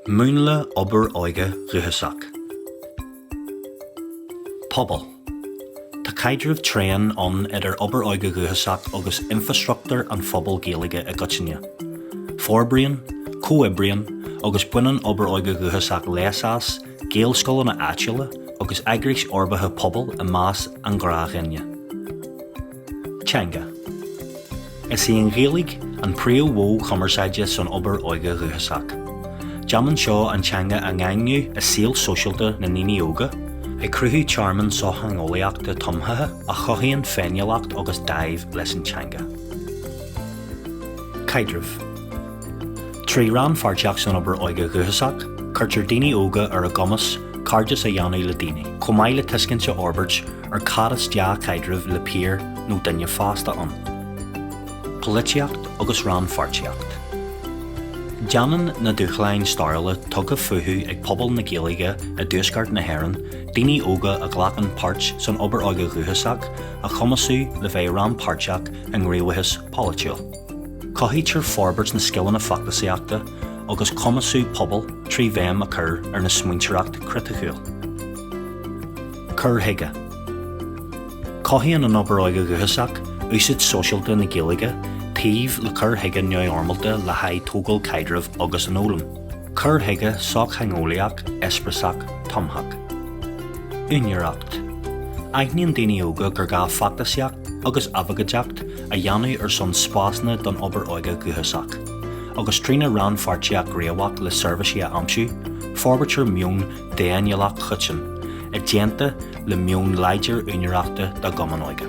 Múnla obair óige dhúchasach. Pobal, Tá caidreamh tréan ann idir obair óige dhúchasach agus infreastruchtúr an phobail Gaeilge i gcoitinne. Forbraíonn, comhoibríonn agus baineann obair óige dhúchasach leas as, Gaelscoileanna áitiúla agus eagrais fhorbartha pobail i measc an ghnáthdhuine. Teanga Is í an Ghaeilge an príomh-mhodh cumarsáide san obair óige dhúchasach. Déanann seo an teanga a dhaingniú i saol sóisialta na ndaoine óga, ag cruthú tearmann sochtheangeolaíochta tumthaithe a chothaíonn féiniúlacht agus dáimh leis an teanga. Caidrimh Trí rannpháirtíocht san obair óige dhúchasach, cuirtear daoine óga ar a gcumas cairdeas a dhéanamh le daoine, chomh maith le tuiscint a fhorbairt ar cad is dea-chaidreamh le piar nó duine fásta ann. Polaitíocht agus rannpháirtíocht. Déanann na dúshláin stairiúla tugtha fúthu ag pobal na Gaeilge i dTuaisceart na hÉireann daoine óga a ghlacann páirt san obair óige dhúchasach a chumasú le bheith rannpháirteach i ngníomhaíochas polaitiúil. Cothaítear forbairt na scileanna feachtasaíochta agus cumasú pobail trí bhéim a chur ar na smaointeoireacht chriticiúil. Cur chuige, Cothaíonn an obair óige dhúchasach úsáid sóisialta na Gaeilge taobh le cur chuige neamhfhoirmeálta le haghaidh tógáil caidrimh agus an fhoghlaim, cur chuige sochtheangeolaíoch eispéireasach tumthach. Úinéireacht, Aithníonn daoine óga gur gá feachtasaíocht agus abhcóideacht a dhéanamh ar son spásanna don obair óige dhúchasach, agus trína rannpháirtíocht ghníomhach le seirbhísí a aimsiú, forbairtear meon d'fhéiniúlacht choiteann, i dteannta le meon láidir úinéireachta dá gcumann óige.